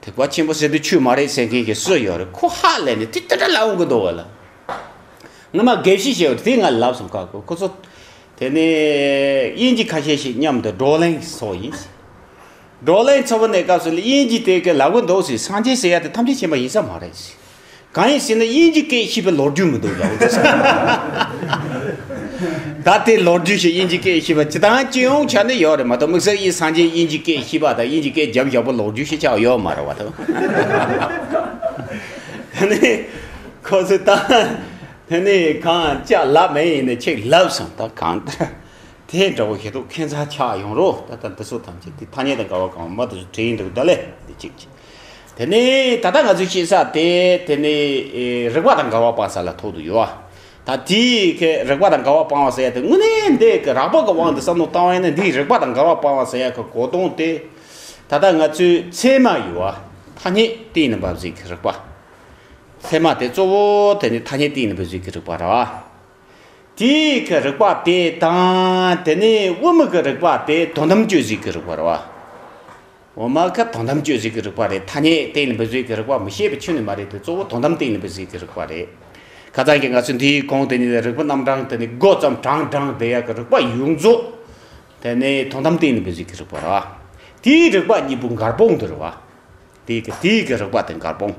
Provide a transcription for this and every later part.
ཐེག་པ་ཆེན་པོ་ཟེར་དུས་ཆོས་མ་རེད་ཟེར་མཁན་གྱི་སུ་ཡོད་རེད་ཁོ་ཧ་ལས་ནས་དེ་ལྟ་དྲ་ལ་འོང་གི་འདུག་བ་ལ་ངོ་མ་དགེ་བཤེས་ཞེས་པ་དེ་ང་ལབ་སོང་ཁག་གོ་ཁོ་ཚོ་དེ་ནི་དབྱིན་ཇི་ཁ་ཤས་ཤིག་མཉམ་དུ་བགྲོ་གླེང་ཚོགས་ཡིན་བགྲོ་གླེང་ཚོགས་པ་ནས་སྐབས་སུ་དབྱིན་ཇི་དེ་ག་ལབ་གི་འདུག་ཟེར་སངས་རྒྱས་ཟེར་ཡ་དེ་ཐམས་ཅད་མཁྱེན་པ་ཡིན་ས་མ་རེད་ཟེར། གང་ཡིན་ཟེར་ན་དབྱིན་ཇི་སྐད་ཤེས་པའི་ལོ་རྒྱུས་མི་འདུག་ཡག་པོ་བྱས། ད་ལྟའི་ལོ་རྒྱུས་ཤིག་དབྱིན་ཇི་སྐད་ཤེས་པ་ཇི་ལྟར་སྐྱེ་ཡོང་ཆ་ནས་ཡོད་རེད་མ་གཏོགས་དམིགས་བསལ་དབྱི་སངས་ཆེན་དབྱིན་ཇི་སྐད་ཤེས་པ་དང་དབྱིན་ཇི་སྐད་འཇམ་ཞགས་པོ་ལོ་རྒྱུས་ཤིག་ཆགས་ཡོད་མ་རེད་བ་ཐོས། དེ་ནས་ཁོ་ཚོས་ད་དེ་ནས་གང་ལྕགས་ལབ་མེད་ཡིན་ནས་ཆེག་ལབ་སོང་ད་གང་ལྟར་དེ་འདྲ་བོ་ཞིག་འདུག་ཁྱེད་ཚང་ཆགས་ཡོང་རོགས་ད་ལྟ་འདི་ཚོ་ཐམས་ཅད་དེ་ཐ་སྙད་དང་དགའ་བ་གང་མ་དེ་ཚོ་བྲིས་འདུག་ད་ལས་འདི་གཅིག་གཅིག་དེ་ནི་ད་ལྟ་ང་ཚོས་ཤེས་ས་དེ་དེ་ནི་རིག་པ་དང་དགའ་བ་སྤངས་ས་ལ་ཐོགས་དུ་ཡོད། ད་དེའི་རིག་པ་དང་དགའ་བ་སྤང་བ་ཟེར་ཡ་དེ་དངོས་གནས་འདི་གི་རགས་པ་གི་དབང་དུ་བསམ་བློ་བཏང་བས་ན་འདིའི་རིག་པ་དང་དགའ་བ་སྤང་བ་ཟེར་ཡ་གི་གོ་དོན་དེ་ད་ལྟ་ང་ཚོའི་ཚད་མ་ཡི་བ་ཐ་སྙད་གཏན་ནས་འབབ་ཟིག་གི་རིག་པ། ཚད་མ་དེ་གཙོ་བོ་དེ་ནི་ཐ་སྙད་གཏན་ནས་འབུལ་ཟིག་གི་རིག་པ་ར་བ། དེའི་གི་རིག་པ་དེ་དང་དེ་ནི་དབུ་མི་གི་རིག་པ་དེ་དོན་དམ་གཅོད་ཟིག་གི་རིག་པ་ར་བ། འོ་མ་ཁ་དོན་དམ་གཅོད་བྱེད་ཀྱི་རིགས་པ་རེད་ཐ་སྙད་གཏན་ནས་འབུལ་བྱེད་ཀྱི་རིགས་པ་མི་ཤེས་པའི་ཆོས་ནི་མ་རེད་དེ་གཙོ་བོ་དོན་དམ་གཏན་ནས་འབུལ་བྱེད་ཀྱི་རིགས་པ་རེད། ཁ་ཙང་གི་ང་ཚོས་འདིའི་གོང་དེ་ནི་རིགས་པ་རྣམ་གྲངས་དེ་ནི་མགོ་བརྩམས་གྲངས་བགྲངས་བསྡད་ཡག་གི་རིགས་པ་ཡོངས་རྫོགས་དེ་ནི་དོན་དམ་གཏན་ནས་འབུལ་བྱེད་ཀྱི་རིགས་པ་རེད། དེའི་རིགས་པ་གཉིས་པོ་མགར་སྤོང་གི་རེད་བ། དེའི་གི་དེའི་གི་རིགས་པ་དེ་མགར་སྤོང།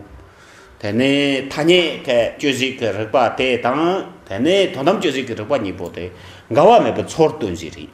དེ་ནི་ཐ་སྙད་ཁ་གཅོད་བྱེད་ཀྱི་རིགས་པ་དེ་དང་དེ་ནི་དོན་དམ་གཅོད་བྱེད་ཀྱི་རིགས་པ་གཉིས་པོ་དེ་འགལ་བ་མེད་པའི་ཚོར་སྟོན་བྱེད་རིགས།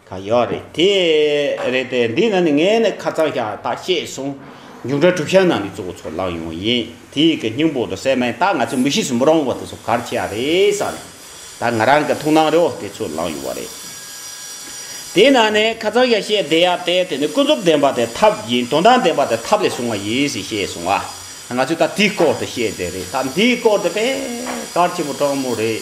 ད་ཡོད་རེད་དེ། རེད་དེ། འདི་ན་ནི་ངས་ནི་ཁ་རྩང་བཞག་ད་བཤད་གསུང། མཇུག་འབྲས་གྲུབ་ཤ་ནང་གི་གཙོ་བོ་ཚོ་ལངས་ཡོང་ཡིན་དེ་གི་སྙིང་པོ་དུ་གསལ་མེད་ད་ང་ཚོས་མི་ཤེས་སུ་མི་རང་བ་དེ་ཚོ་གར་བྱས་རེད་བསམ་ནས་ད་ང་རང་གི་ཐུགས་སྣང་རེའོ་དེ་ཚོས་ལངས་ཡོང་བ་རེད། དེ་ན་ནི་ཁ་རྩང་བཞག་བཤད་བསྡད་ཡག་དེ་དེ་ནི་ཀུན་རྫོབ་བདེན་པ་དེ་ཐབས་ཡིན་དོན་དམ་བདེན་པ་དེ་ཐབས་ལས་བྱུང་བ་ཡིན་ཞེས་བཤད་གསུང་ཨ་ང་ཚོས་ད་དེའི་སྐོར་དུ་བཤད་བསྡད་རེད་ད་འདིའི་སྐོར་དུ་བེད་ཀར་ཆེན་པོ་དྲང་མོ་རེད།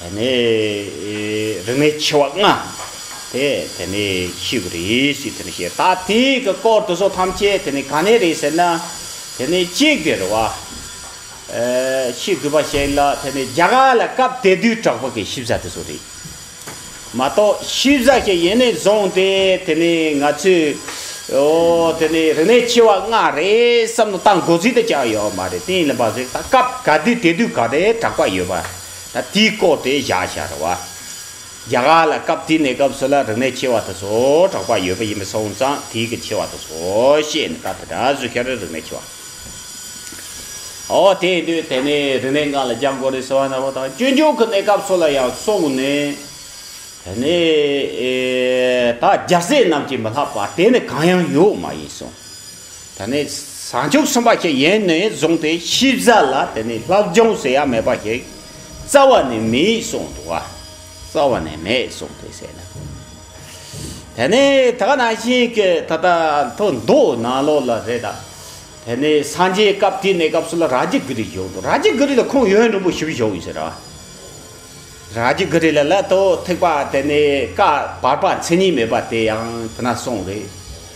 དེ་ནས་རིག་མའི་ཆེ་བ་ལྔ་དེ་དེ་ནས་ཤེས་པར་རེ་ཞིག་དེ་ནས་ཤེས་ད་དེ་གི་སྐོར་དུ་སོགས་ཐམས་ཅད་དེ་ནས་ག་ནས་རེད་ཟེར་ན་དེ་ནས་གཅིག་དེར་བ་ཕྱིས་བསྡུས་པ་ཞིག་ལ་དེ་ནས་བརྒྱ་ག་ལ་སྐབས་དེ་དུས་གྲགས་པ་གི་ཤེས་བྱ་དེ་སོགས་རེད་མ་གཏོགས་ཤེས་བྱ་ཞིག་ཡེ་ནས་བཟུང་སྟེ་དེ་ནས་ང་ཚོས་ཨོ་དེ་ནས་རིག་མའི་ཆེ་བ་ལྔ་རེད་བསམ་ནས་བཏང་དགོས་ཚུལ་དེ་ཅང་ཡོད་མ་རེད་དེ་ཡིན་ལ་མ་ཟད་ད་སྐབས་ག་དུས་དེ་དུས་ག་རེ་གྲགས་པ་ཡོད་པ། ད་དེའི་སྐོར་དེ་བཞག་བཞག་རེད་བ། རྒྱ་གར་ལ་སྐབས་དེའི་གནས་སྐབས་སུ་ལ་རིག་གནས་ཆེ་བ་དེ་ཚོ་གྲགས་པ་ཡོད་པ་ཡིན་པས་སོང་ཙང་དེའི་གི་ཆེ་བ་དེ་ཚོ་བཤད་ནས་ད་དེ་དྲག་བཟོས་ཤར་རི་རིག་གནས་ཆེ་བ། ཨོ་དེ་དུས་དེ་ནས་རིག་གནས་འགའ་ལ་རྒྱ་མགོ་རི་ཟེར་བ་ནག་པོ་དང་སྤྱོད་འཇུག་གི་གནས་སྐབས་སུ་ལ་ཡང་སོང་ནས་དེ་ནས་ད་རྒྱ་ཟས་རྣམས་ཀྱིས་མི་ལྷག་པ་དེ་ནི་གང་ཡང་ཡོད་མ་ཡིན་སོང། ད་ནི་བཟང་ཕྱུག་གསུམ་པ་ཞིག་ཡེངས་ནས་བཟུང་སྟེ་ཤི་བཟའ་ལ་དེ་ནི་ལྷག་སྦྱོང་ཟེར་ཡ་མེད་པ་ཞིག་རྩ་བ་ནས་མེད་གསུངས་འདུག་རྩ་བ་ནས་མེད་གསུངས་ཏེ་ཟེར་ན་དེ་ནི་ད་ནང་བཞིན་གྱི་ད་ལྟ་མཐོ་མདོག་ནང་ལོག་ལ་རེད་ད་དེ་ནི་སངས་རྒྱས་སྐབས་དེའི་གནས་སྐབས་སུ་ལ་རཱ་ཇི་གྷི་རི་བཞུགས་འདུག་རཱ་ཇི་གྷི་རི་ལ་ཁོང་ཡོན་རིན་པོ་ཞུ་བཞུགས་ཡོད་ཟེར་ར་རཱ་ཇི་གྷི་རི་ལ་ལ་དོ་ཐེག་པ་དེ་ནི་བཀའ་བར་པ་མཚན་ཉིད་མེད་པ་དེ་ཡང་དེ་ན་གསུངས་རེད།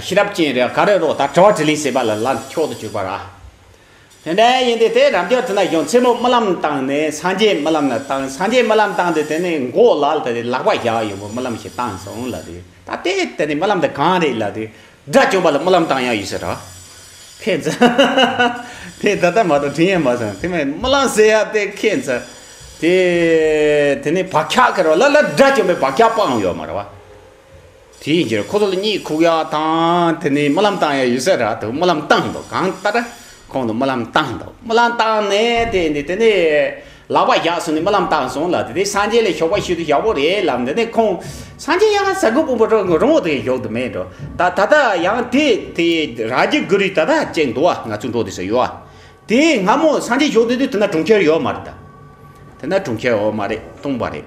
ཤེས་རབ་ཅན་རེ་ག་རེ་རོ་ད་དྲི་བ་དྲི་ལན་ཟེར་པ་ལ་ལག་འཁྱོག་ཏུ་གྱུར་པ་ར་དེ་འདྲ་ཡིན་དུས་དེ་རབ་འབྱོར་དུ་ན་གཞོན་མཚན་མོ་རྨི་ལམ་བཏང་ནས་སངས་རྒྱས་རྨི་ལམ་ལ་བཏང་སངས་རྒྱས་རྨི་ལམ་བཏང་དུས་དེ་ནས་མགོ་ལག་དེ་རེ་ལག་པ་བཞག་ཡོང་བའི་རྨི་ལམ་ཞིག་བཏང་སོང་ལབ་དུས་ད་ལྟའི་དེ་ནས་རྨི་ལམ་དེ་གང་རེད་ལབ་དུས་དགྲ་བཅོམ་པ་ལ་རྨི་ལམ་བཏང་ཡག་ཡོད་ཟེར་ར་ཁྱེད་ཚོ་དེ་ད་ལྟ་མ་གཏོགས་དྲིན་ཡང་མ་སོང་དེ་མིན་རྨི་ལམ་ཟེར་ཡག་དེ་ཁྱེད་ཚོ་དེ་དེ་ནས་བག་ཆགས་ཁེར་བ་ལ་ལ་དགྲ་བཅོམ་པའི་བག་ཆགས་སྤངས་ཡོད་མ་ར་བ། དེའི་རྗེས་ཁོ་ཚོ་ལ་གཉིད་ཁུག་ཡག་དང་དེ་ནས་རྨི་ལམ་བཏང་ཡག་ཡོད་ས་རེད་འདུག་རྨི་ལམ་བཏང་འདུག་གང་ལྟར་ཁོང་ཚོ་རྨི་ལམ་བཏང་འདུག་རྨི་ལམ་བཏང་ནས་དེ་ནས་དེ་ནས་ལག་པ་བཞག་སོང་ནས་རྨི་ལམ་བཏང་སོང་ལ་དེ་ནས་སངས་རྒྱས་ལ་ཞོགས་པ་ཞུས་དུས་ཡག་པོ་རེད་ལབ་འདི་ནས་ཁོང་སངས་རྒྱས་ཡང་ཟ་གི་སྤུན་པོ་རང་ངོ་དེ་ཞོགས་དུ་མེད་འགྲོ་ད་ད་ལྟ་ཡང་དེ་དེ་ར་ཇི་གུ་རི་ད་ད་ཅེས་འདུག་བ་ང་ཚོའི་འགྲོ་དེ་ཟེར་ཡོད་བ་དེ་སྔ་མོ་སངས་རྒྱས་ཞོགས་དུས་དེ་ན་གྲོང་ཁྱེར་ཡོད་མ་རེད་ད་དེ་ན་གྲོང་ཁྱེར་འོ་མ་རེད་སྟོང་པ་རེད།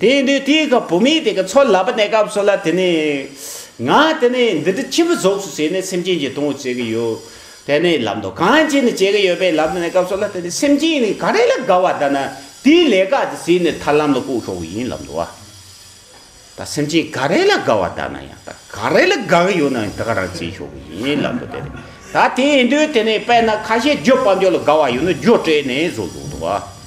དེ་ཡིན་དུས་དེའི་སྐབས་བུད་མེད་དེ་ག་ཚོད་ལབ་པ་གནས་སྐབས་སུ་ལ་དེ་ནས། ང་དེ་ནས་འདི་འདྲི་ཕྱི་མི་རྫོགས་སུ་བྱས་ནས་སེམས་ཅན་གྱི་དོན་དག་བྱེད་ཀྱི་ཡོད། དེ་ནས་ལབ་འདོད་གང་བྱས་ནས་བྱེད་ཀྱི་ཡོད་པས་ལབ་ནས་གནས་སྐབས་སུ་ལ་དེ་ནས་སེམས་ཅན་ག་རེ་ལ་དགའ་བ་ལྟ་ན་དེའི་ལས་ཀ་དེ་བྱས་ནས་ཐར་ལམ་ལ་བཀུག་ཆོག་པ་ཡིན་ལབ་འདོད། ད་སེམས་ཅན་ག་རེ་ལ་དགའ་བ་ལྟ་ན་ཡང་ད་ག་རེ་ལ་དགའ་གི་ཡོད་ན་དེ་ག་རང་བྱེད་ཆོག་གི་ཡིན་ལབ་འདོད་དེ་རེད། ད་དེ་ཡིན་དུས་དེ་ནས་དཔེར་ན་ཁ་ཤས་རྒྱུ་སྤང་རྒྱུ་ལ་དགའ་བ་ཡོད་ན་རྒྱུ་སྤྲད་ནས་བཟོ་ཆོག་འདོད།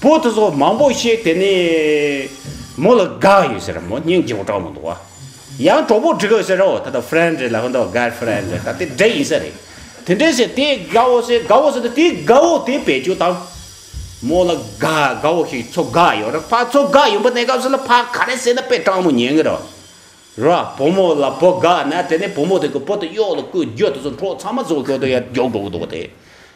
པོ་དེ་སོགས་མང་པོ་བཤད་དེ་ནས། མོ་ལ་དགའ་ཡོད་ཟེར་ར་མོ་སྙིང་རྗེ་བོ་གྲོགས་མོ་འདུག་བ། ཡང་གྲོགས་པོ་འགྲིག་ཨོ་ཟེར་ར་འོ་ད་ད friend རེད་ལ་ཧོན་ཏོ་ཀར friend རེད་ད་དེ་འདྲ་ཡིན་ས་རེད། དེ་འདྲ་ཟེར་དེ་དགའ་བོ་ཟེར་དགའ་བོ་ཟེར་ན་དེ་དགའ་བོ་དེ་བེད་སྤྱོད་དང། མོ་ལ་དགའ་དགའ་བོ་ཞིག་ཚོ་དགའ་ཡོད་ར་ཕ་ཚོ་དགའ་ཡོད་པ་གནས་སྐབས་སུ་ལ་ཕ་ག་རེ་ཟེར་ན་པེ་གྲངས་མོ་ཉན་གི་ར། ར་བུ་མོ་ལ་བུ་དགའ་ན་དེ་ནས་བུ་མོ་དེ་གི་བུ་དེ་གཡོག་ལ་སྐུ་རྒྱུ་དེ་ཚོ་འཕྲོག་ཚང་མ་ཚོ་གོ་ཏོ་ཡ་རྒྱོག་འགྲོ་གི་འདུག་བ་དེ།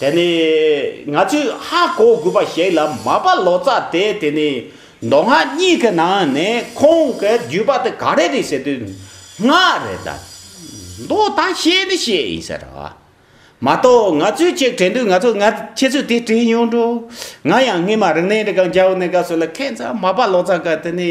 དེ་ནི་ང་ཚོས་ཧ་གོ་དགོས་པ་ཞིག་ལ་མ་པ་ལོ་ཙཱ་དེ་དེ་ནི་མདོ་སྔགས་གཉིས་ཀྱི་ནང་ནས་ཁོང་གི་བརྒྱུད་པ་དེ་ག་རེ་རེད་ཟེར་དུས་སྔགས་རེད་ད། མདོ་ད་བཤད་ནི་བཤད་ཡིན་ཟེར་རོ། མ་གཏོགས་ང་ཚོས་གཅིག་དྲན་དུས་ང་ཚོ་ང་ཁྱེད་ཚོས་དེ་དྲན་ཡོང་འགྲོ། ང་ཡང་སྔོན་མ་རིག་གནས་འདི་ག་འཇའ་འོད་ནས་ག་སོགས་ལ་ཁེངས་ཚ་མ་པ་ལོ་ཙཱ་ག་དེ་ནི།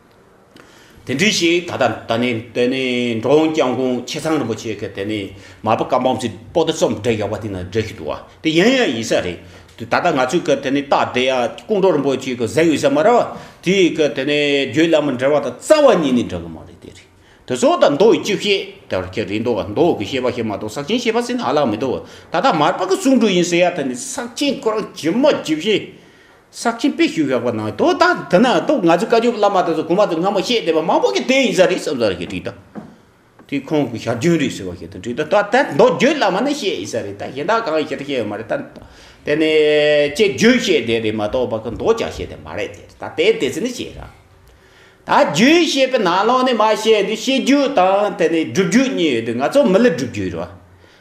དེ་འདྲའི་ཞིག་ད་ལྟ་ད་ནི་དེ་ནི་འགྲོ་འོང་བསྐྱངས་གོང་ཆེ་ཚང་རིན་པོ་ཆེ་གི་དེ་ནི་མ་པ་ཀ་འབངས་ཚོས་པོ་ཏི་རྩོམ་འབྲི་ཡག་པ་དེ་ན་འབྲི་ཤི་འདུག་བ་དེ་ཡིན་ཡང་ཡིན་ས་རེད་ད་ལྟ་ང་ཚོས་གི་དེ་ནི་རྟགས་འབྲི་ཡ་ཀོང་གྲོ་རིན་པོ་ཆེ་གི་གཟེངས་ཡོད་ས་མ་རེད་བ་དེ་གི་དེ་ནི་རྒྱུད་བླ་མ་འབྲི་བ་དང་རྩ་བ་ཉིད་ནས་འབྲི་གི་མ་རེད་དེ་རེད་དེ་ཚོ་ད་མདོ་ཡི་སྤྱི་བཤད་དེ་ར་ཁྱེད་རེད་འདུག་བ་མདོ་གི་བཤད་པ་ཞིག་མ་གཏོགས་ས་ཆེན་བཤད་པ་ཟེར་ན་ཨ་ལགས་མི་འདུག་བ་ད་ལྟ་མར་པ་ཀི་གསུང་སྒྲོས་ཡིན་ཟེར་ཡ་དེ་ནི་ས་ཆེན་ཁོ་རང་ཇི་མ་ཇི་བཞིན་ཟག་ཆེན་དཔེ་ཞུ་ཞོག་པ་ན་དོ་ད་དེ་ན་དོ་ང་ཚོའི་བཀའ་བརྒྱུད་བླ་མ་དེ་ཚོ་གོང་མ་དེ་སྔ་མོ་བཤད་བསྡད་པ་མང་པོ་གི་དེ་ཡིན་ས་རེད་བསམ་ས་རེད་ཞེས་དྲིས་ད་དེ་ཁོང་གི་ཞར་བྱོན་རེད་ཟེར་བ་ཞིག་དང་དྲིས་ད་ད་ད་མདོ་བརྒྱུད་བླ་མ་ནས་བཤད་ཡིན་ས་རེད་ད་གཞན་དག་གང་ཡིན་ཞེ་ད་བཤད་ཡོད་མ་རེད་ད་དེ་ནས་དཔྱད་བརྗོད་བཤད་བསྡད་རེད་མ་གཏོགས་པ་གི་མདོ་བསྐྱར་བཤད་བསྡད་མ་རེད་ཟེར་ད་དེ་དེ་ཚོ་ནས་བཤད་ས་རེད་ད་བརྒྱུད་བཤད་པའི་ནང་ལོགས་ནས་མ་བཤད་དུས་བཤད་བརྒྱུད་དང་དེ་ནས་སྒྲུབ་བརྒྱུད་གཉིས་ཡོད་དུས་ང་ཚོ་མི་ལ་སྒྲུབ་བརྒྱུད་རེད་བ་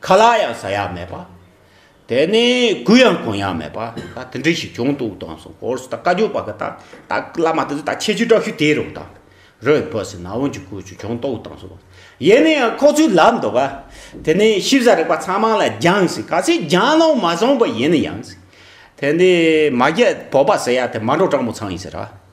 ཁ་ལག་ཡང་ཟ་ཡག་མེད་པ། དེ་ནས་གུས་ཡང་གོན་ཡག་མེད་པ། དེ་འདྲ་ཞིག་བྱུང་འདུག་དང་སོང་གོར་སོང་ད་བཀའ་བརྒྱུད་པ་གི་ད་བཀླགས་མ་ཐུབ་ད་ཁྱེད་ཆོས་གྲགས་ཤུ་དེ་རུང་ད་རོས་བོད་སི་ན་བོན་གྱི་སྐོར་ཅུ་བྱུང་འདུག་དང་སོང། ཡེ་ནས་ཡང་ཁོག་ཆུ་ལབ་འདུག་ག། དེ་ནས་ཤེས་བྱ་རིག་པ་ཚང་མ་ལ་སྦྱངས་སི་ག་སི་སྦྱངས་ནང་མ་སོང་པ་ཡིན་ཡང་སི། དེ་ནས་མ་རྒྱལ་བོད་པ་སི་ཡ་དེ་མ་འགྲོ་སྤྲང་པོ་ཚང་ཡིན་སི་ར།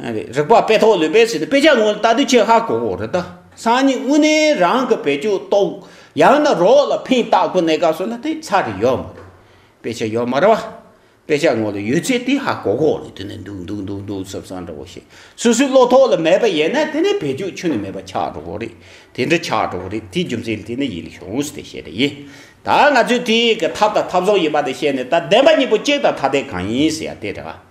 རིག་པ་དཔེ་ཐོག་ལུས་པས་ཟིན་ཏེ་དཔེ་ཆ་དངོས་ལྟ་དུས་ཆད་ཧ་གོ་གོ་རེད་ད། སང་ཉིན་དངོས་གནས་རང་གི་བེད་སྤྱོད་གཏོགས། ཡང་ན་རོགས་ལ་ཕན་བཏགས་པོ་གནས་སྐབས་སུ་ལ་དེ་ཚར་རེ་ཡོད་མ་རེད། དཔེ་ཆ་ཡོད་མ་རེད་བ། དཔེ་ཆ་དངོས་ལ་ཡོད་ཚད་དེ་ཧ་གོ་གོ་རེད་དེ་ནས་འདུག་འདུག་འདུག་འདུག་ཟབ་ས་འདྲ་བོ་ཞིག་སུ་སུའི་བློ་ཐོག་ལ་མེད་པ་ཡིན་ན་དེ་ནས་བེད་སྤྱོད་ཆུ་ནས་མེད་པ་ཆགས་འགྲོ་གོ་རེད་དེ་འདྲ་ཆགས་འགྲོ་གོ་རེད་དེའི་རྒྱུ་མཚན་དེ་ནས་ཡིད་ལ་ཤོང་ཟེར་ཏེ་བཤད་པ་ཡིན། ད་ང་ཚོས་དེའི་གི་ཐབས་དང་ཐབས་བཟང་ཡིན་པ་དེ་བཤད་ནས་ད་བདེན་པ་གཉིས་པོ་གཅིག་དང་ཐ་དད་གང་ཡིན་ཟེར་ཡ་དེ་རེད་བ།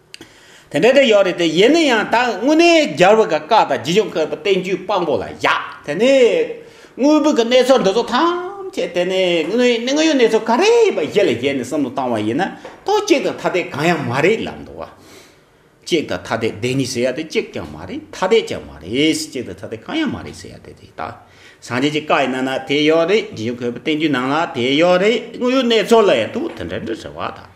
དེ་འདྲ་དེ་ཡོད་རེད་དེ་ཡིན་ན་ཡང་ད་དངོས་གནས་རྒྱལ་བོ་ག་བཀའ་དང་རྗེ་ཆོས་འཁོད་པ་བསྟན་བཅོས་དཔང་པོ་ལ་བཞག་དེ་ནས་དངོས་པོ་གི་གནས་ཚོད་འདི་ཚོ་ཐམས་ཅད་དེ་ནས་དངོས་ཡོད་གནས་ཚོད་ག་རེ་ཡིན་པ་གཞི་ལ་བཞེས་ནས་སུམ་དུ་བཏང་བ་ཡིན་ན་དོ་གཅིག་དང་ཐ་དད་གང་ཡང་མ་རེད་ལབ་འདུག་བ། གཅིག་དང་ཐ་དད་བདེན་གཉིས་ཟེར་ཡ་དེ་གཅིག་ཀྱང་མ་རེད་ཐ་དད་ཀྱང་མ་རེད་གཅིག་དང་ཐ་དད་གང་ཡང་མ་རེད་ཟེར་ཡ་དེ་དེ་དག་སངས་རྒྱས་ཀྱི་བཀའ་ཡི་ནང་ན་དེ་ཡོད་རེད་རྗེ་ཆོས་འཁོད་པ་བསྟན་བཅོས་ནང་ལ་དེ་ཡོད་རེད་དངོས་ཡོད་གནས་ཚོད་ལ་ཡང་དུ་དེ་འདྲ་འདྲ་ཟེར་བ་དང།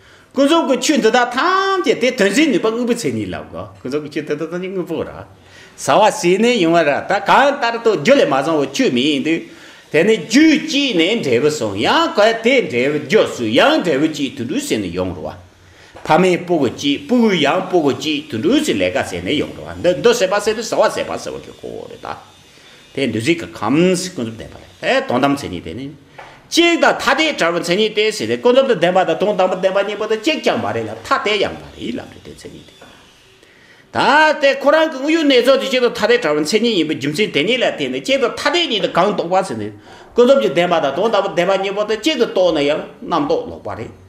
ཀུན་རྫོབ་ཀྱི་ཆོས་འདི་དག་ཐམས་ཅད་དེ་དོན་བྱེད་ནུས་པ་དངོས་པོའི་མཚན་ཉིད་ལ་དགོས། ཀུན་རྫོབ་ཀྱི་ཆོས་དེ་དག་ཐམས་ཅད་དངོས་པོ་ར། ཟ་བ་ཟས་ནས་ཡོང་བ་ར་ད་གང་ལྟར་དུ་རྒྱུ་ལས་མ་བྱུང་བའི་ཆོས་མི་ཡིན་ཏེ། དེ་ནི་རྒྱུས་བསྐྱེད་ནས་འབྲས་བུ་སོང་ཡང་གལ་ཏེ་འབྲས་བུ་རྒྱུ་སུ་ཡང་འབྲས་བུ་བསྐྱེད་དུ་འགྲོའི་ཟས་ནས་ཡོང་རུང་བ། ཕ་མས་སྤུ་གུ་བསྐྱེད་སྤུ་གུས་ཡང་སྤུ་གུ་བསྐྱེད་དུ་འགྲོའི་ཟས་ལས་ཀ་ཟས་ནས་ཡོང་རུང་བ་འདི་འདི་ཟས་པ་ཟས་པས་ཟ་བ་ཟས་པ་ཟ་བ་གི་གོ་བོ་རེད་ད། དེ་བདུད་རྩི་གི་ཁམས་ཀུན་རྫོབ་ལྡན་པ་རེད་དེ་དོན་དམ་མཚན་ཉིད་དེ་ནི། གཅིག་དང་ཐ་དད་བྲལ་བའི་མཚན་ཉིད་དེ་ཞིག་རེད་ཀུན་རྫོབ་ཏུ་ལྡན་པ་དང་དོན་དམ་པར་ལྡན་པ་གཉིས་པོ་དེ་གཅིག་ཀྱང་མ་རེད་ལ་ཐ་དད་ཡང་མ་རེད་ལབ་རེད་དེ་མཚན་ཉིད་དེ། ད་ལྟའི་ཁོ་རང་གི་དངོས་ཡོད་གནས་ཚུལ་དེ་གཅིག་དང་ཐ་དད་བྲལ་བའི་མཚན་ཉིད་ཡིན་པའི་རྒྱུ་མཚན་དེ་ཉིད་ལ་བརྟེན་ནས་གཅིག་དང་ཐ་དད་གཉིས་དེ་གང་རྟོགས་པ་ཟེར་ནས་ཀུན་རྫོབ་ཀྱི་ལྡན་པ་དང་དོན་དམ་པར་ལྡན་པ་གཉིས་པོ་དེ་གཅིག་ཏུ་རྟོགས་ན་ཡང་རྣམ་རྟོག་ལོག་པ་རེད།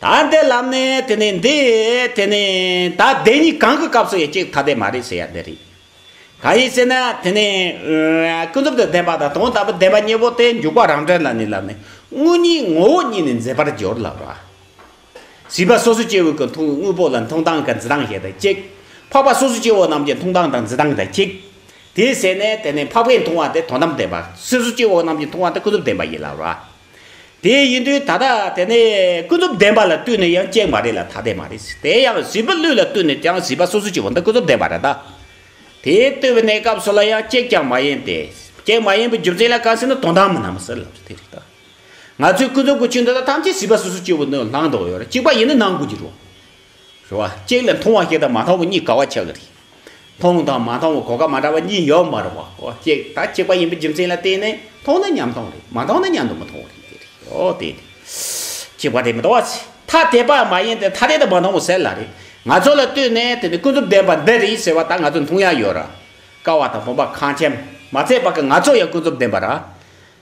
ད་ལྟའི་ལམ་ནི་དེ་ནས་འདི། དེ་ནས་ད་བདེན་གཉིས་གང་གི་སྐབས་སུ་ཡི་གཅིག་ཐ་དད་མ་རེད་ཟེར་ཡ་འདི་རེད། གང་ཡིན་ཟེར་ན་དེ་ནི། ཀུན་རྫོབ་ཏུ་བདེན་པ་དང་དོན་དམ་པའི་བདེན་པ་གཉིས་པོ་དེ་འཇུག་པ་རང་གྲོལ་ལ་ནི་ལམ་ནི་དངོས་གཉིས་ངོ་བོ་གཉིས་ནི་འཛིན་པར་སྦྱོར་ལགས་པ། སྲིད་པ་སོ་སོ་སྐྱེ་བོའི་ཀུན་མཐོང་གི་དངོས་པོ་ལ་མཐོང་སྟངས་ཀྱི་འཛིན་སྟངས་ཞེས་དང་གཅིག། འཕགས་པ་སོ་སོ་སྐྱེ་བོ་རྣམས་ཀྱི་མཐོང་སྟངས་དང་འཛིན་སྟངས་དང་གཅིག། དེའི་ཟེར་ནས་དེ་ནི་འཕགས་པའི་མཐོང་བ་དེ་དོན་དམ་བདེན་པ། སོ་སོ་སྐྱེ་བོ་རྣམས་ཀྱི་མཐོང་བ་དེ་ཀུན་རྫོབ་བདེན་པ་ཡིན་ལགས་པ། དེ་ཡིན་དུས་ད་ལྟ་དེ་ནས་ཀུན་རྫོབ་བདེན་པ་ལ་བསྟུན་ནས་ཡང་གཅིག་མ་རེད་ལ་ཐ་དད་མ་རེད་དེ་ཡང་བཞི་པ་ལུས་ལ་བསྟུན་ནས་ཀྱང་བཞི་པ་སོ་སོ་ཅིག་འོ་ན་ཀུན་རྫོབ་བདེན་པ་རེད་ད། དེ་ལྟོས་པའི་གནས་སྐབས་སུ་ལ་ཡང་གཅིག་ཀྱང་མ་ཡིན་ཏེ། གཅིག་མ་ཡིན་པའི་རྒྱུ་མཚན་ལ་གང་ཟེར་ན་དོན་དམ་མིན་ནམ་ཟེར་ལབ་ཚེ་དེ་རེད་ད། ང་ཚོས་ཀུན་རྫོབ་ཀྱི་ཆོས་འདི་དག་ཐམས་ཅད་བཞི་པ་སོ་སོ་ཅིག་བོ་ནི་ལྷག་མདོག་ཡོད་རེད་གཅིག་པ་ཡིན་ན་ནང་དགོས་ཀྱི་རེད། རེད་བ། གཅིག་ལ་མཐོང་བ་ཞིག་དང་མ་མཐོང་བ་གཉིས་ག་བ་ཆགས་ཀྱི་རེད། མཐོང་དང་མ་མཐོང་བའི་གོ་སྐབས་མ་འདྲ་བ་གཉིས་ཡོད་མ་རེད་བ། གཅིག་ད་གཅིག་པ་ཡིན་པའི་རྒྱུ་མཚན་ལ་བརྟེན་ནས་མཐོང་ན་མཉམ་མཐོང་རེད་མ་མཐོང་ན་མཉམ་དུ་མི་མཐོང་བ་རེད། དེ་ནི་གཅིག་པ་དེ་མི་འདྲ་བ་ཚེ་ཐ་དད་པ་མ་ཡིན་ཏེ་ཐ་དད་དུ་མ་མཐོང་བ་གསལ་ལ་རེད། ང་ཚོ་ལ་ལྟོས་ནས་དེ་ནི་ཀུན་རྫོབ་བདེན་པ་འདི་རེད་ཟེར་བ་ད་ང་ཚོས་མཐོང་ཡ་ཡོད་ར། ཀ་བ་དང་བུམ་པ་གངས་ཅན་མ་ཚད་པ་ཀ་ང་ཚོ་ཡང་ཀུན་རྫོབ་བདེན་པ་ར།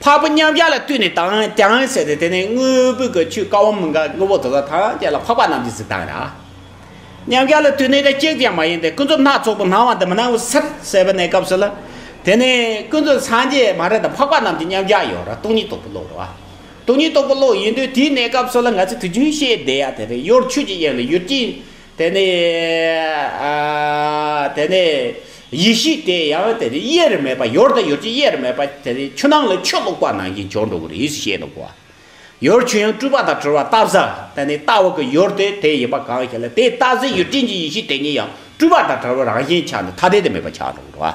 འཕགས་པ་མཉམ་གཞག་ལ་བཏུད་ནས་དང་ཀྱང་བྱས་ཏེ་དེ་ནས་དངོས་པོའི་གོས་ཆུ་ཀ་བ་མི་འགག་དངོས་པོ་དེ་དག་ཐམས་ཅད་ལ་འཕགས་པ་རྣམས་ཀྱི་གཟི་མདངས་ཡང། མཉམ་གཞག་ལ་བཏུད་ནས་ཀྱང་གཅིག་ཀྱང་མ་ཡིན་ཏེ་ཀུན་རྫོབ་སྣ་ཚོགས་པོ་སྣང་བ་འདི་མི་སྣང་བའི་སར་གསལ་བའི་གནས་སྐབས་སུ་ལ། དེ་ནས་ཀུན་རྫོབ་སངས་རྒྱས་མ་རེད་དང་འཕགས་པ་རྣམས་ཀྱི་མཉམ་གཞག་ཡོད་ར་སྟོང་ཉིད་རྟོགས་པའི་བློ་རེད་བ། སྟོང་ཉིད་རྟོགས་པའི་བློ་ཡིན་དུས་དེའི་གནས་སྐབས་སུ་ལ་ང་ཚོས་དུས་རྒྱུན་ཤེས་བསྡད་ཡ་དེ་རེད་གཡོར་ཆུ་གཅིག་ཡན་ལ་ཡུར་གྱིས། དེ་ནས་དེ་ནས་ཡེ་ཤེས་དེ་ཡང་དེ་ནས་དབྱེར་མེད་པ་ཡོར་དང་ཡོར་གྱི་དབྱེར་མེད་པ་དེ་ནས་ཆུ་ནང་ལ་ཆུ་བླུགས་པ་ནང་གི་སྦྱོར་འགྲོ་བ་རེ་ཞེས་བྱེད་དོ། ཡོར་ཆུ་ཡང་སྤྲུལ་པ་དང་བྲལ་བ་ལྟ་བཟའ་དེ་ནས་ལྟ་བ་གི་ཡོར་དེ་དེ་ཡིན་པ་གང་ཞེ་ན་དེ་ལྟ་བཟའི་ཡོར་སྤྲིན་གྱི་ཡེ་ཤེས་དེ་ཉིད་ཡང་སྤྲུལ་པ་དང་བྲལ་བ་རང་བཞིན་ཆ་ནས་ཐ་དད་དུ་མེད་པ་ཆགས་འགྲོ་བ།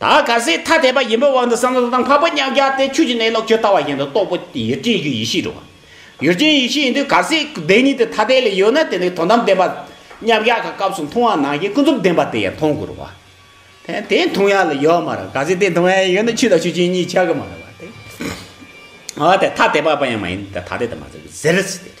ད་ག་ཟེ་ཐ་དད་པ་ཡིན་པའི་དབང་དུ་བསམ་བློ་དང་བབ་པ་མཉམ་རྒྱག་སྟེ་ཆོས་ཀྱི་གནས་ལོག་ཁྱོད་ལྟ་བ་བཞིན་དུ་རྟོགས་པ་ཡུལ་ཅན་གྱི་ཡེ་ཤེས་འགྲོ། ཡུལ་ཅན་ཡེ་ཤེས་ཡིན་དུས་ག་ཟེ་བདེན་གཉིས་དེ་ཐ་དད་ལས་ཡོད་ན་དེ་ནི་དོན་དམ་བདེན་པ། མཉམ་རྒྱག་གི་སྐབས་སུ་མཐོང་བ་ནང་བཞིན་ཀུན་རྫོབ་བདེན་པ་དེ་ཡང་མཐོང་དགོས་རོ། དེ་དེ་མཐོང་ཡ་ལ་ཡོད་མ་རེད་ག་ཟེ་དེ་མཐོང་ཡ་ཡོད་ན་ཆོས་དང་ཆོས་ཅན་གཉིས་ཆགས་ཀྱི་མ་རེད་བ། ཨ་དེ་ཐ་དད་པ་པ་ཡང་མ་ཡིན་དེ་ཐ་དད་དུ་མ་ཟེར་ཟེར།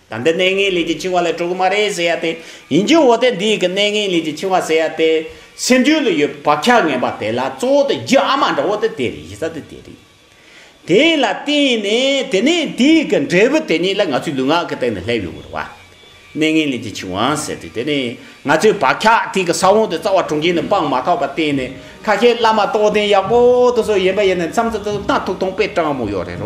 ད་འདི་གནས་ངན་ལས་ཀྱི་འཆིང་བ་ལས་གྲོལ་གི་མ་རེད་ཟེར་ཡ་དེ་ཡིན་རྒྱུ་འོ་དེ་འདི་གི་གནས་ངན་ལས་ཀྱི་འཆིང་བ་ཟེར་ཡ་དེ་སེམས་རྒྱུད་ལ་ཡོད་པའི་བག་ཆགས་ངན་པ་དེ་ལ་གཙོ་བོ་དེ་རྒྱུ་ཨ་མ་འདྲ་བོ་དེ་དེ་རེད་ཡིན་ས་དེ་དེ་རེད། དེ་ལ་བརྟེན་ནས་དེ་ནས་འདི་གི་འབྲས་བུ་དེ་ཉིད་ལ་ང་ཚོའི་ལུས་ངག་གི་སྟེང་ནས་སླེབས་ཡོང་གི་རེད་བ། གནས་ངན་ལས་ཀྱི་འཆིང་བ་ཟེར་དུས་དེ་ནི་ང་ཚོའི་བག་ཆགས་དེ་གི་ས་བོན་དེ་རྩ་བ་དྲུངས་ཀྱིན་ནས་སྤངས་མ་ཐག་པ་བརྟེན་ནས་ཁ་ཤས་བླ་མ་རྟོགས་ལྡན་ཡག་པོ་དེ་ཚོ་ཡིན་པ་ཡིན་ནས་མཚམས་མཚམས་སུ་སྣ་ཐུག་ཐུག་པའི་སྤྲང་མོ་ཡོད་རེད་བ།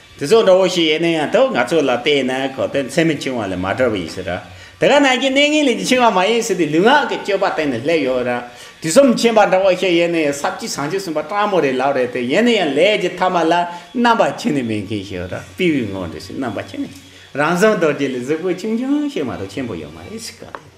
དེ་ཚོ་འདྲ་བོ་ཞིག་ཡིན་ན་ཡང་དག་ང་ཚོ་ལ་བལྟས་ན་གོ་དོན་ཚད་མི་ཆུང་བ་ལས་མ་འདྲ་བ་ཡིན་སྲིད། དེ་ག་ནང་གི་གནས་ངན་ལས་ཀྱི་ཆེ་བ་མ་ཡིན་སྲིད་དེ་ལུས་ངག་གི་སྤྱོད་པ་སྟེང་ནས་སླེབས་ཡོད་ར། དུས་གསུམ་མཁྱེན་པ་འདྲ་བོ་ཞིག་ཡིན་ན་ཡང་ས་བཅུ་ཟངས་ཆུ་གསུམ་པ་སྤྲང་མོ་རེད་ལག་རེད་དེ་ཡིན་ན་ཡང་ལས་ཀྱི་ཐ་མ་ལ་རྣམ་པ་ཁྱེར་ནས་མེད་མཁན་ཞིག་ར་པི་ཝི་ངོ་འདྲི་སྲིད་རྣམ་པ་ཁྱེར་ནས་རང་བཟོ་འདོར་རྒྱུ་ལས་གཟུགས་པོ་ཆུང་ཆུང་ཞིག་མ་གཏོགས་ཆེན་པོ་ཡོད་མ་རེད་སྲིད།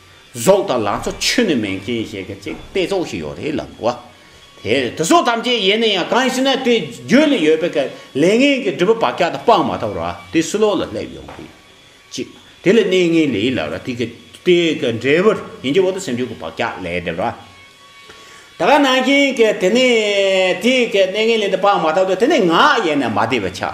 ཟོག་དང་ལང་ཚོ་ཆོས་ནི་མེད་མཁན་ཞེས་གི་ཅིག་དཔེ་ཚོགས་ཤིག་ཡོད་རེད་ལབ་བོ། དེ་དེ་ཚོ་ཐམས་ཅད་ཡེ་ནས་ཡང་གང་ཞིག་ན་དེ་རྒྱུད་ལ་ཡོད་པའི་ཀའི་ལས་ངན་གི་སྒྲིབ་པ་བག་ཆགས་དང་སྤངས་མ་ཐག་ར་དེ་སུ་ལོག་ལ་སླེབས་ཡོང་གི་ཅིག་དེ་ལ་གནས་ངན་ལེའི་ལ་ར་དེ་གི་དེ་གི་འབྲས་བུར་ཡིན་གྱི་འོག་ཏུ་སེམས་ཅན་གི་བག་ཆགས་ལས་སྒྲིབ་ར་དེ་ག་ནང་བཞིན་གི་དེ་ནས་དེ་གི་གནས་ངན་ལེ་དེ་སྤངས་མ་ཐག་ཏུ་དེ་ནས་ངག་ཡེ་ནས་མ་བདེ་བའི་ཆ།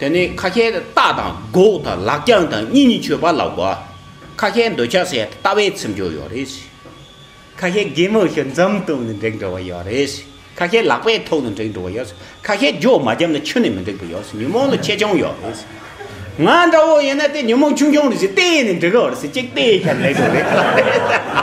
དེ་ནི་ཁ་ཁྱེར་རྟགས་དང་སྒོག་དང་ལག་བརྐྱང་དང་གཉིས་གཉིས་ཆོད་པ་ལ་གོ། ཁ་ཁྱེར་འདོད་ཆགས་སེར་ལྟ་བའི་ཚིམ་སྦྱོར་ཡོད་རེད། ཁ་ཁྱེར་རྒན་མོ་ཞིག་འཛུམ་བཏུམ་ནས་འགྲེང་འགྲོ་བ་ཡོད་རེད། ཁ་ཁྱེར་ལག་པས་ཐོག་ནས་འགྲེང་འགྲོ་བ་ཡོད་རེད། ཁ་ཁྱེར་རྒྱོ་མ་བརྒྱབ་ན་ཆུ་ནས་མི་འདེགས་པ་ཡོད་རེད་ཉོན་མོངས་ལ་ཆེ་ཆུང་ཡོད་རེད། ང་འདྲ་བོ་ཡིན་ན་དེ་ཉོན་མོངས་ཆུང་ཆུང་རེད་ཅེས་བལྟས་ནས་འགྲེང་རོགས་རེད་ཅེས་གཅིག་བལྟས་ཤར་ལེགས་རོགས་རེད།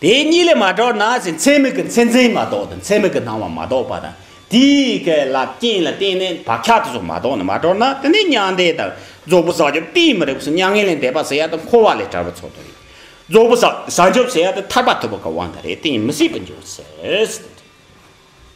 དེ་གཉིས་ལས་མ་གྲོལ་ན་ཞེས་མཚན་མིག་གི་མཚན་འཛིན་མ་གཏོགས་དང་མཚན་མིག་གི་སྣང་བ་མ་གཏོགས་པ་དང་དེའི་སྐད་ལ་རྐྱེན་ལ་བརྟེན་ནས་བག་ཆགས་དེ་སོགས་མ་གཏོགས་ནས་མ་གྲོལ་ན་དེ་ནི་མྱང་འདས་དང་རྫོགས་པའི་བསགས་སྦྱོར་གཏན་མི་རིགས་སོ་མྱ་ངན་ལས་འདས་པ་ཟེར་ཡ་དང་འཁོར་བ་ལས་བྲལ་བ་ཚོགས་དོན་ཡིན། རྫོགས་པའི་བསགས་སྦྱོར་ཟེར་ཡ་དང་ཐར་པ་ཐོབ་པ་གང་དབང་དང་རེ་གཏན་མི་སྲིད་པར་འགྱུར་ཟེར།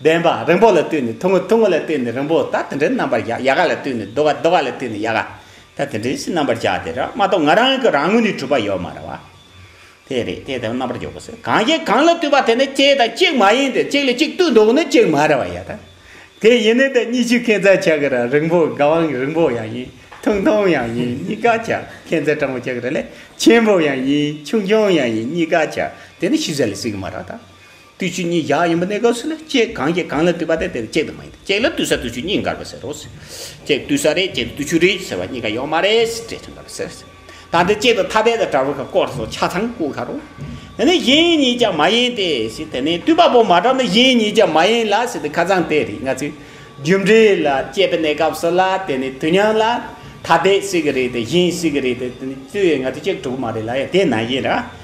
བདེན་པ། རིང་པོ་ལ་ལྟོས་ནས་ཐུང་ངུ་ཐུང་ངུ་ལ་ལྟོས་ནས་རིང་པོ་ད་དེ་འདྲའི་རྣམ་པར་གཞག་ཡག་ག་ལ་ལྟོས་ནས་སྡུག་ག་སྡུག་ག་ལ་ལྟོས་ནས་ཡག་ག་ད་དེ་འདྲའི་ཞེས་རྣམ་པར་གཞག་དེ་རང་མ་གཏོགས་ང་རང་གི་རང་ངོས་ནས་གྲུབ་པ་ཡོད་མ་རེད་བ། དེ་རེད་དེ་ལྟ་བུའི་རྣམ་པར་འཇོག་པ་སེ་གང་ཞིག་གང་ལ་ལྟོས་པ་དེ་ནི་གཅིག་དང་གཅིག་མ་ཡིན་ཏེ་གཅིག་ལ་གཅིག་ལྟོས་འདོགས་ནི་གཅིག་མ་རེད་བ་ཡ། དེ་ཡིན་ནི་དེ་གཉིས་ཆུ་ཁེན་ཚ་ཆག་གི་རང་རིང་པོ་དགའ་བའང་རིང་པོ་ཡང་ཡིན་ཐུང་ཐུང་ཡང་ཡིན་གཉིས་ཀ་ཆ་ཁེན་ཚ་སྤྲང་པོ་ཆག་གི་ར་ལས་ཆེན་པོ་ཡང་ཡིན་ཆུང་ཆུང་ཡང་ཡིན་གཉིས་ཀ་ཆ་དེ་ནི་ཤུལ་ས་ལས་སུས་ཀྱི་མ་རེད་བ། བསྟུད་ཆུ་གཉིས་བཞག་ཡིན་པ་གནས་སྐབས་སུ་ལ་ལྕེ་གང་སྐྱེས་གང་ལ་བསྟུད་པ་དེ་དེར་ལྕེ་དུ་མ་ཡིན་ཏེ་ལྕེ་ལ་བསྟུད་ས་བསྟུད་ཆུ་གཉིས་འགར་བ་ཟེར་རོ། ལྕེ་བསྟུད་ས་རེད་ལྕེ་བསྟུད་ཆུ་རེད་ཟེར་བ་གཉིས་ཀ་ཡོད་མ་རེད་ཟེར་ལྕེ་ཆུ་འགར་བ་ཟེར། ད་དེ་ལྕེ་དང་ཐ་དད་དང་བྲལ་བ་ག་སྐོར་སོགས་ཆ་ཚང་བཀོད་ཁ་རོགས། དེ་ནས་གཞན་གཉིས་ཀྱང་མ་ཡིན་ཏེ་ཞེས་དེ་ནས་བསྟུད་པ་པོ་མ་གྲགས་ན་གཞན་གཉིས་ཀྱང་མ་ཡིན་ལ་ཞེས་ཏེ་ཁ་ཚང་དེ་རེད་ང་ཚོས་རྒྱུ་འབྲས་ལ་དཔྱད་པའི་གནས་སྐབས་སུ་ལ་དེ་ནས་དུས་མཉམ་ལ་ཐ་དད་ཞིག་རེད་དེ་གཞན་ཞིག་རེད་དེ་དེ་ནས་བསྟུད་ཡོད་ང་ཚོས་དཔྱད་དགོས་གྲུབ་མ་རེད་ལ་ཡང་དེ་ནང་བཞིན་ར་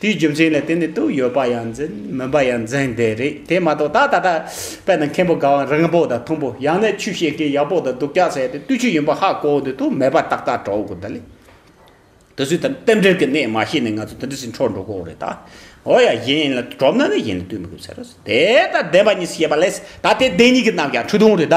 དེའི་རྒྱུ་མཚན་ལས་དེ་ནི་དུག་ཡོད་པ་ཡང་འཛིན་མིན་པ་ཡང་འཛིན་བདེ་རེད་དེ་མ་གཏོགས་ད་ད་ལྟ་དཔལ་དང་མཁན་པོ་དགའ་བ་རིང་པོ་དང་ཐུང་པོ་ཡང་ན་ཆུ་བཤད་མཁན་ཡག་པོ་དང་སྡུག་ཅག་ཟེར་ཏེ་བསྟུད་ཆུ་ཡིན་པ་ཧ་གོ་འདོད་དུ་མེད་པ་ཏག་ཏག་གྲོགས་མགོ་ཟླ་ལས་དེ་ཚོའི་ཐད་རྟེན་འབྲེལ་གྱི་གནས་མ་ཤེས་ནས་ང་ཚོ་དེ་འདྲ་ཞིག་འཕྲོག་འགྲོ་དགོས་རེད་ད་ཨོ་ཡ་གཞན་ཡིན་ལ་གྲོབ་ན་ནི་གཞན་ལ་ལྟོས་མི་དགོས་ཟེར་རོ་དེ་ལྟར་བདེན་པ་གཉིས་སུ་བཤད་པ་ལས་ད་དེ་བདེན་གཉིས་ཀྱི་རྣམས་ཀྱང་འཁྲུག་སྡོང་རེད་ད་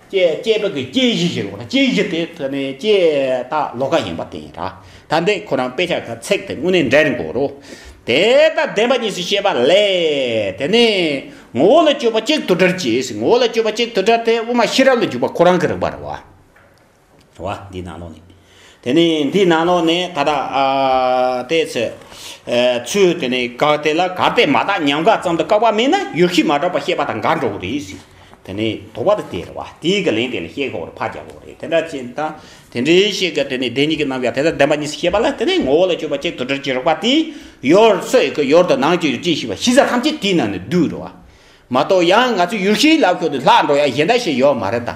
སྐྱེས་བུ་གྱི་སྐྱེ་གཞི་ཞེས་འོངས་ན་སྐྱེ་གཞི་དེ་ཐོན་མིའི་སྐྱེས་ད་ལོ་ཀ་ཡིན་པ་དེ་ཡིན། ད་ལྟའི་ཁོ་རང་དཔེ་ཆ་ག་ཚེག་དེ་དངོས་གནས་འདྲེན་དགོས་རོ། དེ་ལྟར་བདེན་པ་གཉིས་སུ་ཤེས་པ་ལས། དེ་ནས་ངོ་བོ་ལ་དཔྱོད་པ་གཅིག་དུ་སྦྲེལ་གྱིས་ངོ་བོ་ལ་དཔྱོད་པ་གཅིག་དུ་སྦྲེལ་ཏེ་དབུ་མ་ཤེས་རབ་ལ་འཇུག་པ་ཁོ་རང་གི་རིག་པར་བ། བ། འདིའི་ནང་ལོགས་ནས། དེ་ནས་འདིའི་ནང་ལོགས་ནས་ད་ལྟ། ལྟས་ཚོད། ཚུལ་དེ་ནས་དགག་དེ་ལ་གར་དེ་མ་དག་ཉམས་དགག་ཙམ་དུ་བཀག་པ་མིན་ན་ཡུལ་གཞི་མ་གྲགས་པ་ཤེས་པ་དང་དགག་འགྲོ་གི་རེད་ཟེར། དེ་ནས་དོགས་པ་དེ་སྟེར་བ། དེའི་གི་ལན་དེ་ལ་ཤེས་ཁོག་རེ་ཕག་རྒྱག་ཁོག་རེད་དེ་འདྲ་ཅན་དང། དེ་འདྲའི་ཤེས་ཀྱི་དེ་ནས་བདེན་གཉིས་ཀྱི་རྣམ་གཞག་དེ་ལྟར་བདེན་པ་གཉིས་སུ་ཤེས་པ་ལ་དེ་ནས་ངོ་བོ་ལ་དཔྱོད་པ་གཅིག་ཏུ་དྲིལ་གྱིས་རོགས་པ་དེ། ཡོར་ཚོད་ཀྱི་ཡོར་དུ་ནང་གི་ཡོར་ཅི་ཞིག་བ་ཤིས་ས་ཐམས་ཅད་དེའི་ནང་ནས་བསྡུས་འགྲོ་བ། མ་གཏོགས་ཡང་ང་ཚོའི་ཡུལ་གཞིའི་ལག་ཁྱོར་དུ་ལྷག་འགྲོ་ཡ་གཞན་འདྲ་ཞིག་ཡོད་མ་རེད་ད།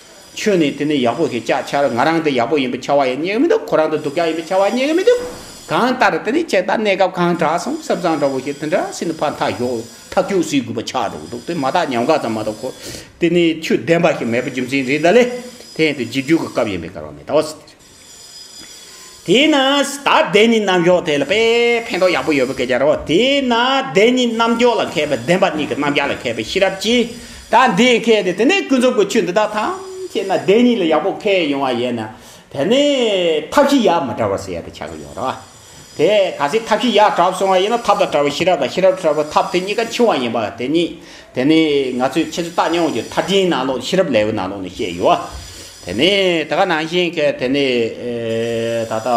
ཁྱོད་ནི་དེ་ནི་ཡག་པོ་ཞེས་ཅག་འཕྱར་ང་རང་དེ་ཡག་པོ་ཡིན་པའི་ཆ་བ་ཡང་རྙེད་ཀྱི་མི་འདུག་ཁོ་རང་དེ་སྡུག་ཅག་ཡིན་པའི་ཆ་བ་རྙེད་ཀྱི་མི་འདུག་གང་ལྟར་དེ་ནི་ཁྱེད་ལྟར་གནས་སྐབས་གང་དྲག་སོང་སེམས་བཟང་འདྲ་བོ་ཞིག་དེ་འདྲ་སྲིད་ན་ཕར་མཐའ་ཞོག་ཐབས་སྐྱོ་སྲིད་དགོས་པ་ཆགས་འགྲོ་གི་འདུག་དེ་མ་ཐག་ཉམས་དགའ་ཙམ་མ་གཏོགས་ཁོ་དེ་ནི་ཆོས་བདེན་པ་ཞིག་མེད་པའི་རྒྱུ་མཚན་རེད་ད་ལེ་དེ་ཡང་དུ་རྗེས་འཇུག་གི་སྐབས་ཡིན་པས་གར་བ་མི་གདའ་བ་སྲིད་དེ་རེད། དེས་ན་ད་བདེན་གཉིས་རྣམ་གཞག་དེ་ལ་དཔེ་ཕན་ཐོགས་ཡག་པོ་ཡོད་པ་སྐད་ཆ་རེད། དེས་ན་བདེན་གཉིས་རྣམ་གཞག་ལ་མཁས་པའི་བདེན་པ་གཉིས་ཀྱི་རྣམ་གཞག་ལ་མཁས་པའི་ཤེས་རབ་ཀྱིས་ད་འདི་མཁས་ཏེ་དེ་ནས་ཀུན་རྫོབ་ཀྱི་ཆོས་འདི་དག་ཐམས་ཅད་ན་བདེན་གཉིས་ལ་ཡག་པོ་མཁས་ཡོང་བ་ཡིན་ན་དེ་ནས་ཐབས་ཤེས་ཡག་མི་འདྲ་བ་ཟེར་ཡག་ཏུ་ཆགས་ཀྱི་ཡོད་རེད། དེ་ག་ཟེ་ཐབས་ཤེས་ཡག་གྲབས་སོང་བ་ཡིན་ན་ཐབས་དང་བྲལ་བ་ཤེས་རབ་དང་ཤེས་རབ་བྲལ་བ་ཐབས་དེ་གཉིས་ཀ་འཆིང་བ་ཡིན་པ་དེ་གཉིས་དེ་ནི་ང་ཚོས་ཁྱེད་ཚོས་བརྟག་མྱོང་བའི་མཐར་ཕྱིན་ནང་ལོགས་ཤེས་རབ་ལེའུ་ནང་ལོགས་ནས་བཤད་ཡོད་བ་དེ་ནི་དེ་ག་ནང་བཞིན་གྱི་དེ་ནི་ད་ལྟ་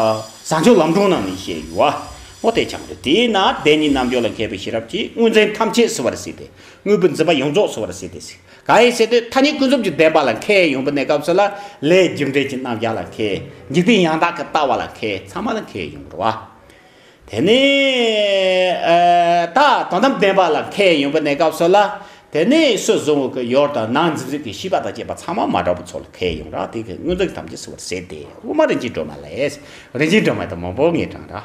བཟང་སྤྱོད་ལམ་སྒྲོན་ནང་ནས་བཤད་ཡོད་བ་ངོ་དེ་ཆགས་འདུག་དེས་ན་བདེན་གཉིས་རྣམ་འབྱོར་ལ་མཁས་པའི་ཤེས་རབ་ཀྱིས་དངོས་འཛིན་ཐམས་ཅད་བསལ་བར་བྱས་ཏེ་དངོས་པོའི་འཛིན་པ་ཡོངས་རྫོགས་བསལ་བར་བྱས་ཏེ་གང་ཡིན་ཟེར་དུས་ཐ་སྙད་ཀུན་རྫོབ་ཀྱི་བདེན་པ་ལ་མཁས་ཡོང་པའི་གནས་སྐབས་སུ་ལ་ལས་རྒྱུ་འབྲས་ཀྱི་རྣམ་གཞག་ལ་མཁས། འཇིག་རྟེན་ཡང་དག་གི་ལྟ་བ་ལ་མཁས་ཚང་མ་ལ་མཁས་ཡོང་བར་བ། དེ་ནས་ད་དོན་དམ་བདེན་པ་ལ་མཁས་ཡོང་པའི་གནས་སྐབས་སུ་ལ་དེ་ནས་སུ་བཟུང་བ་ཀུན་ཡོར་དང་ནང་འཛིན་རིགས་ཀྱི་ཤེས་པ་དང་བཅས་པ་ཚང་མ་མ་དྲག་པོ་ཚོ་ལ་མཁས་ཡོང་རང་སྟེང་གི་དངོས་འཛིན་ཐམས་ཅད་སྲི་བར་ཟད་དེ་དབུ་མ་རིན་ཆེན་སྒྲོན་མ་ལས་རིན་ཆེན་སྒྲོན་མ་དང་མང་པོ་ངེས་དྲངས་ར།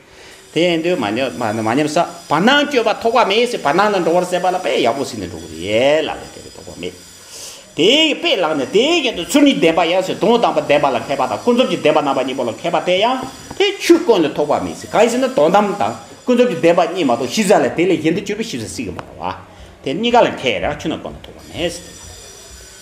དེ་ཡང་འདོད་མ་ཉམས་ས་བར་སྣང་སྤྱོད་པ་ཐོགས་པ་མེད་ཟེར་བར་སྣང་ན་འགྲོ་བར་ཟད་པ་ལ་དཔེ་ཡག་པོ་ཟིན་ནས་འགྲོ་གི་རེད་ཡལ་ལ་ལས་དེ་ལས་ལྡོག་པ་མེད། དེ་ཡི་དཔེ་བཀླགས་ནས་དེའི་རྒྱན་དུ་ཚུར་ཉིད་བདེན་པ་ཡང་ཟེར་དོན་དམ་པ་བདེན་པ་ལ་མཁས་པ་དང་ཀུན་རྫོབ་ཀྱི་བདེན་པ་རྣམ་པ་གཉིས་པོ་ལ་མཁས་པ་དེ་ཡང་དེ་ཆོས་དཀོན་ལས་ཐོགས་པ་མེད་ཟེར་གང་ཡིན་ཟེར་ན་དོན་དམ་དང་ཀུན་རྫོབ་ཀྱི་བདེན་པ་གཉིས་མ་གཏོགས་ཤེས་བྱ་ལ་དེ་ལས་གཞན་དུ་སྤྱོད་པའི་ཤེས་བྱ་སྲིད་ཀྱི་མ་རེད་བ། དེ་གཉིས་ཀ་ལ་མཁས་ཡང་ཆོས་རྣམས་དཀོན་ལ་ཐོགས་པ་མེད་ཟེར།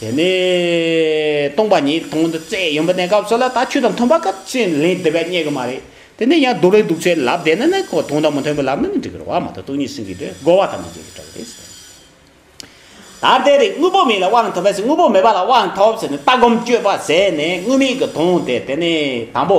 དེ་ནས་སྟོང་པ་ཉིད་སྟོང་དུ་རྩེ་ཡོན་པོ་གནས་སྐབས་སུ་ལ་དྭགས་ཆོས་དང་མཐུན་པ་སྐབས་ཅན་ལན་བདུན་པའི་སྙད་གི་མ་རེད། དེ་ནས་ཡང་སྡུག་ལས་སྡུག་ཚེ་ལབ་བདེ་ན་ནི་གོ་དོང་དང་མི་མཐུན་པའི་ལབ་ན་ནི་འགྲིག་གི་རོ་བ་མ་གཏོགས་སྟུག་ཉིད་སྲིན་གི་དོད་རྒོལ་བ་དང་མི་འགལ་གི་གྲགས་རེད་ཟེར། ད་ལྟའི་རིགས་དངོས་པོ་མེད་ལ་དབང་ཐོབ་བས་དངོས་པོ་མེད་པ་ལ་དབང་ཐོབ་ཟེར་ནས་ལྟ་སྒོམ་སྤྱོད་པ་ཟད་ནས་དངོས་མེད་ཀྱི་དོན་དེ་དེ་ནི་དང་པོ།